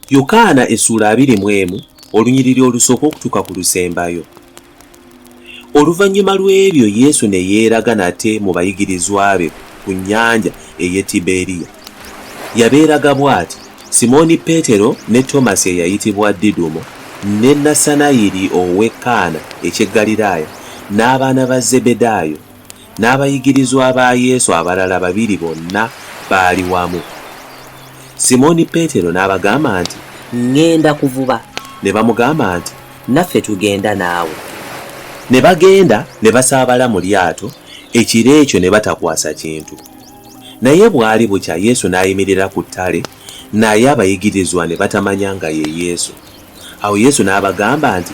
yokaana essuula abiri mu emu olunyiriri olusooka okutuuka ku lusembayo oluvannyuma lw'ebyo yesu ne yeeraga nate mu bayigirizwa be ku nnyanja ey'e tiberiya yabeeraga bw'ati simooni peetero ne tomasi eyayitibwa didumo ne nasanayiri ow'e kaana eky'e ggaliraaya n'abaana ba zebedaayo N'abayigirizwa ba Yesu abalala babiri bonna baali wamu. Simooni Peetero n'abagamba nti. Ŋŋenda kuvuba. Ne bamugamba nti. Naffe tugenda naawe. Ne bagenda ne basaabala mu lyato ekiro ekyo ne batakwasa kintu. Naye bwali bukya Yesu n'ayimirira ku ttale, naye abayigirizwa ne batamanya nga ye Yesu. Awo Yesu n'abagamba nti.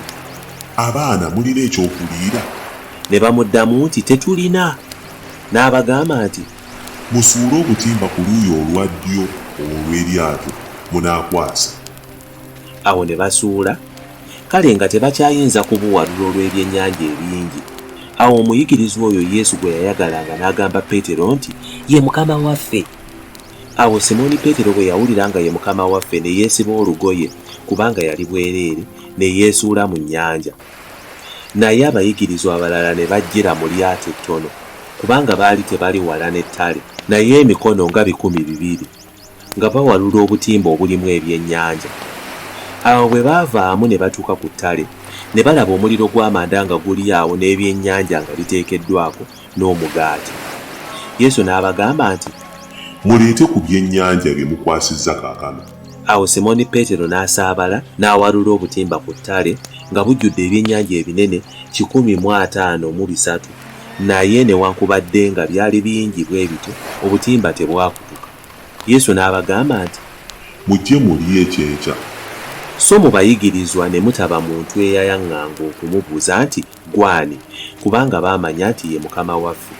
Abaana, mulina eky'okuliira? Ne bamuddamu nti, Tetulina. N'abagamba nti. Musuule obutimba ku luuyi olwa ddyo olw'eryato, munaakwasa. Awo ne basuula, kale nga tebakyayinza kubuwalula olw'ebyennyanja ebingi. Awo omuyigirizwa oyo Yesu gwe yayagalanga n'agamba Peetero nti, Ye Mukama waffe! Awo Simooni Peetero bwe yawulira nga ye Mukama waffe, ne yeesiba olugoye, kubanga yali bwereere, ne yeesuula mu nnyanja. Naye abayigirizwa abalala ne bajjira mu lyato ettono, kubanga baali tebali wala n'ettale. Naye emikono nga bikumi bibiri, nga bawalula obutimba obulimu ebyennyanja. Awo bwe baavaamu ne batuuka ku ttale, ne balaba omuliro gw'amanda nga guli awo n'ebyennyanja nga biteekeddwako, n'omugaati. Yesu n'abagamba nti. Muleete ku byennyanja bye mukwasizza kaakano. Awo Simooni Peetero n'asaabala n'awalula obutimba ku ttale, nga bujjudde ebyennyanja ebinene kikumi mu ataano mu bisatu, naye newankubadde nga byali bingi bwe bityo, obutimba tebwakutuka. Yesu n'abagamba nti. Mujje mulye eky'enkya. Sso mu bayigirizwa ne mutaba muntu eyayaŋŋanga okumubuuza nti. Gw'ani? Kubanga baamanya nti ye Mukama waffe.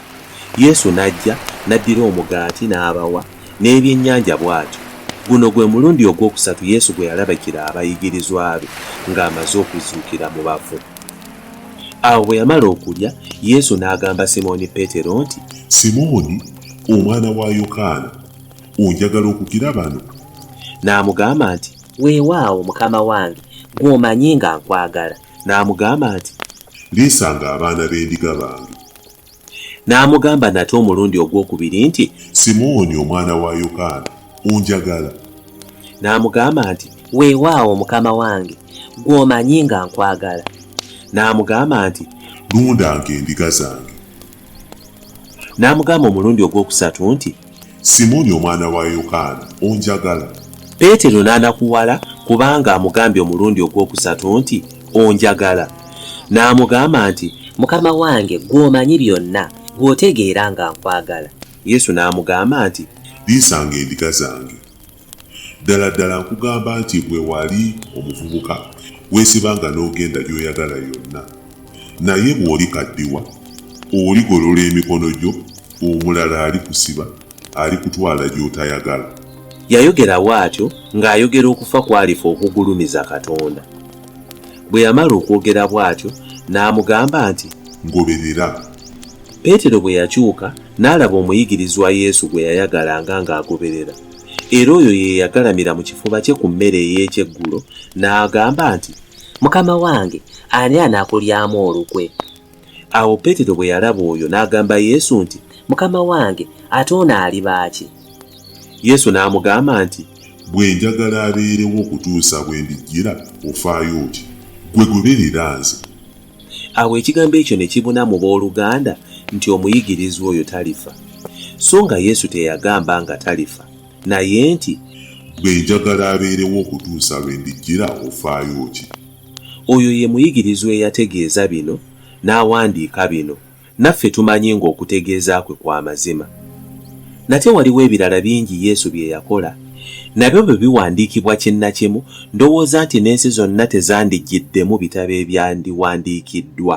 Yesu n'ajja, n'addira omugaati, n'abawa, n'ebyennyanja bw'atyo. Guno gwe mulundi ogw'okusatu Yesu gwe yalabikira abayigirizwa be nga amaze okuzuukira mu bafu. Awo bwe yamala okulya, Yesu n'agamba Simooni Peetero nti. Simooni, omwana wa Yokaana, onjagala okukira bano? N'amugamba nti. Weewaawo, Mukama wange, ggwe omanyi nga nkwagala. N'amugamba nti. Liisanga abaana b'endiga bange. N'amugamba nate omulundi ogw'okubiri nti. Simooni omwana wa Yokaana, onjagala? N'amugamba nti. Weewaawo, Mukama wange, ggwe omanyi nga nkwagala. N'amugamba nti. Lundanga endiga zange. N'amugamba omulundi ogw'okusatu nti, Simooni omwana wa Yokaana, onjagala? Peetero n'anakuwala kubanga amugambye omulundi ogw'okusatu nti, Onjagala? N'amugamba nti, Mukama wange, ggwe omanyi byonna, ggwe otegeera nga nkwagala. Yesu n'amugamba nti. Liisanga endiga zange. Ddala ddala nkugamba nti bwe wali omuvubuka, weesibanga n'ogenda gy'oyagala yonna, naye bw'olikaddiwa, oligolola emikono gyo, omulala alikusiba, alikutwala gy'otayagala. Yayogera bw'atyo ng'ayogera okufa kw'alifa okugulumiza Katonda. Bwe yamala okwogera bw'atyo, n'amugamba nti. Ngoberera. Peetero bwe yakyuka, n'alaba omuyigirizwa Yesu gwe yayagalanga ng'agoberera. era oyo ye yagalamira mu kifuba kye ku mmere ey'ekyeggulo n'agamba nti, Mukama wange, ani anaakulyamu olukwe? Awo Peetero bwe yalaba oyo n'agamba Yesu nti, Mukama wange, ate ono aliba ki? Yesu n'amugamba nti, Bwe njagala abeerewo okutuusa bwe ndijjira, ofaayo otya? Ggwe goberera nze. Awo ekigambo ekyo ne kibuna mu b'oluganda nti omuyigirizwa oyo talifa. So nga Yesu teyagamba nga talifa, naye nti. Ggwe njagala abeerewo okutuusa lwe ndijjira, ofaayo ki? Oyo ye muyigirizwa eyategeeza bino n'awandiika bino. Naffe tumanyi ng'okutegeeza kwe kwa mazima. Nate waliwo ebirala bingi Yesu bye yakola. Nabyo bwe biwandiikibwa kinnakimu, ndowooza nti n'ensi zonna tezandijjiddemu bitabo ebyandiwandiikiddwa.